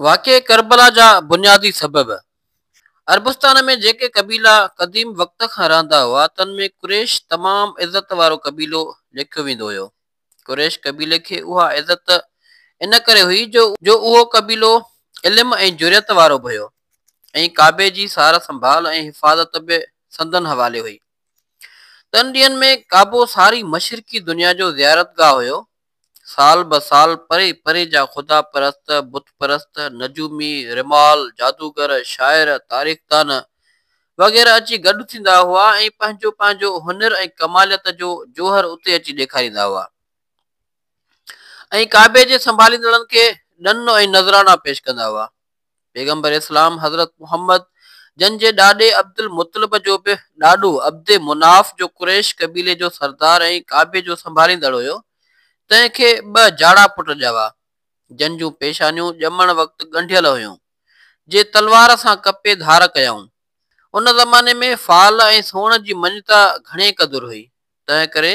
واقعي ڪربلا جا بنيادي سبب، عربستان ۾ جيڪي قبيلا قديم وقت کان رهندا هئا تن ۾ قريش تمام عزت وارو قبيلو ليکيو ويندو هيو. قريش قبيلي کي اها عزت ان ڪري هئي جو اهو قبيلو علم ۽ جرئت وارو به هيو ۽ ڪعبي جي سار سنڀال ۽ حفاظت به سندن حوالي هئي. تن ڏينهن ۾ ڪعبو ساري مشرقي دنيا جو زيارتگاهه هيو سال به سال پري پري جا خدا پرست، بت پرست، نجومي، رمال، جادوگر، شاعر، تاريخدان وغيره اچي گڏ ٿيندا هئا ۽ پنهنجو پنهنجو هنر ۽ ڪماليت جو جوهر اتي اچي ڏيکاريندا هئا ۽ ڪعبي جي سنڀاليندڙن کي ڏن ۽ نذرانا پيش ڪندا هئا. پيغمبر اسلام حضرت محمد جن جي ڏاڏي عبدالمطلب جو به ڏاڏو عبد مناف جو قريش قبيلي جو سردار ۽ ڪعبي جو سنڀاليندڙ هيو تنهن کي ٻه جاڙا پٽ ڄاوا جن جون پيشانيون ڄمڻ وقت ڳنڍيل هيون جي تلوار سان ڪپي ڌار ڪيائون ان زماني ۾ فال ۽ سون جي مڃتا گهڻي قدر هئي تنهن ڪري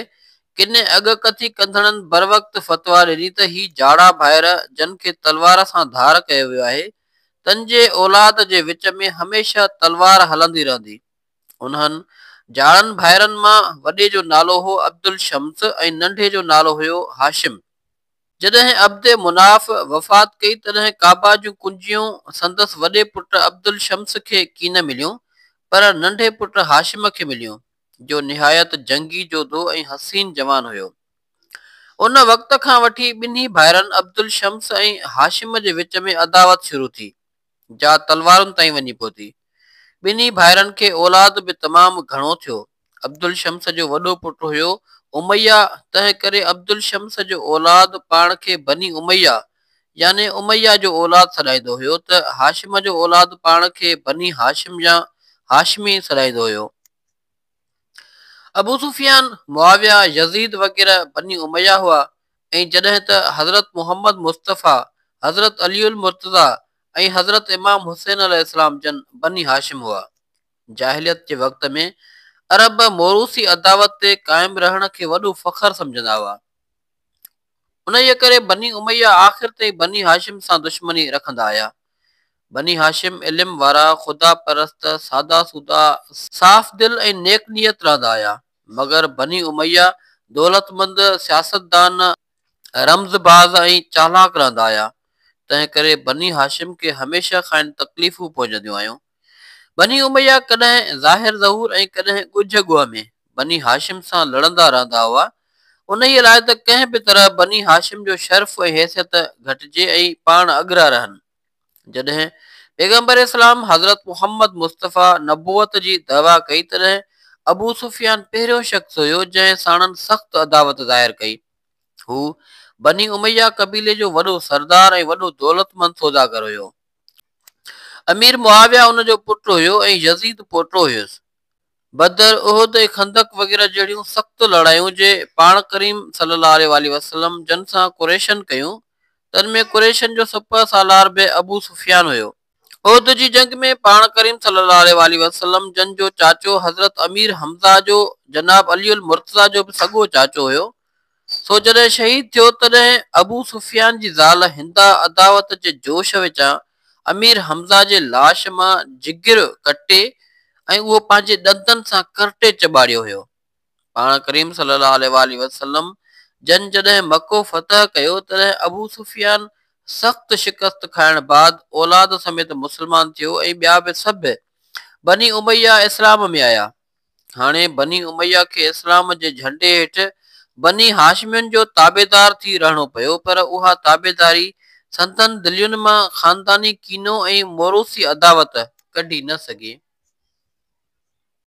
ڪن اڳڪٿي ڪندڙن بروقت فتويٰ ڏني ته هي جاڙا ڀائر جن کي تلوار سان ڌار ڪيو ويو آهي، تن جي اولاد جي وچ ۾ هميشه تلوار هلندي رهندي. انهن جاڙن ڀائرن مان وڏي جو نالو هو عبدالشمس ۽ ننڍي جو نالو هيو هاشم. جڏهن عبد مناف وفات ڪئي تڏهن ڪعبه جون ڪنجيون سندس وڏي پٽ عبدالشمس کي ڪين مليون پر ننڍي پٽ هاشم کي مليون. جو نهايت جنگي جوڌو ۽ حسين جوان هيو. ان وقت کان وٺي ٻنهي ڀائرن عبدالشمس ۽ هاشم جي وچ ۾ عداوت شروع ٿي، جا تلوارن تائين وڃي پهتي. ٻنهي ڀائرن کي اولاد به تمام گهڻو ٿيو. عبدالشمس جو وڏو پٽ هيو اميه، تنهنڪري عبدالشمس جو اولاد پاڻ کي بني اميه يعني اميه جو اولاد سڏائيندو هيو ته هاشم جو اولاد پاڻ کي بني هاشم يا هاشمي سڏائيندو هيو. ابو سفيان، معاويه، يزيد وغيره بني اميه هئا ۽ جڏهن ته حضرت محمد مصطفيٰ، حضرت علي المرتضيٰ ۽ حضرت امام حسين عليه السلام جن بني هاشم هئا. جاهليت جي وقت ۾ عرب موروثي عداوت تي قائم رهڻ کي وڏو فخر سمجهندا هئا. انهيء ڪري بني اميه آخر تائين بني هاشم سان دشمني رکندا آيا. بني هاشم علم وارا، خدا پرست، سادا سودا، صاف دل ۽ نيڪ نيت رهندا آيا، مگر بني اميه دولتمند، سياستدان، رمز باز ۽ چالاڪ رهندا آيا، تنهن ڪري بني هاشم کي هميشه کانئن تڪليفون پهچنديون آيون، بني اميه ڪڏهن ظاهر ظهور ۽ ڪڏهن ڳجهه ڳوهه ۾ بني هاشم سان لڙندا رهندا هئا، انهيء لاء ته ڪنهن به طرح بني هاشم جو شرف ۽ حيثيت گهٽجي ۽ پاڻ اڳرا رهن. جڏهن پيغمبر اسلام حضرت محمد مصطفيٰ نبوت جي دعويٰ ڪئي تڏهن ابو سفيان پهريون شخص هيو جنهن ساڻن سخت عداوت ظاهر ڪئي. هو بني اميه قبيلي جو وڏو سردار ۽ وڏو دولتمند سوداگر هيو. امير معاويه ان جو پٽ هيو ۽ يزيد پوٽو هيس. بدر، احد ۽ خندق وغيره جهڙيون سخت لڙايون جي پاڻ ڪريم صلي الله عليه واٰله وسلم جن سان قريشن ڪيون، تن ۾ قريشن جو سپهه سالار به ابو سفيان هيو. احد جي جنگ ۾ پاڻ ڪريم صلي الله عليه واٰله وسلم جن جو چاچو حضرت امير حمزه جو جناب علي المرتضيٰ جو به سڳو چاچو هيو، سو جڏهن شهيد ٿيو تڏهن ابو سفيان جي زال هندا عداوت جي جوش وچان امير حمزه جي لاش مان جگر ڪٽي ۽ اهو پنهنجي ڏندن سان ڪرٽي چٻاڙيو هيو. پاڻ ڪريم صلي الله عليه واٰله وسلم جن جڏهن مڪو فتح ڪيو تڏهن ابو سفيان سخت شڪست کائڻ بعد اولاد سميت مسلمان ٿيو ۽ ٻيا به سڀ بني اميه اسلام ۾ آيا. هاڻي بني اميه کي اسلام جي جهنڊي هيٺ بني هاشمين جو تابعدار ٿي رهڻو پيو پر اها تابعداري سندن دلين مان خانداني ڪينو ۽ موروثي عداوت ڪڍي نه سگهي.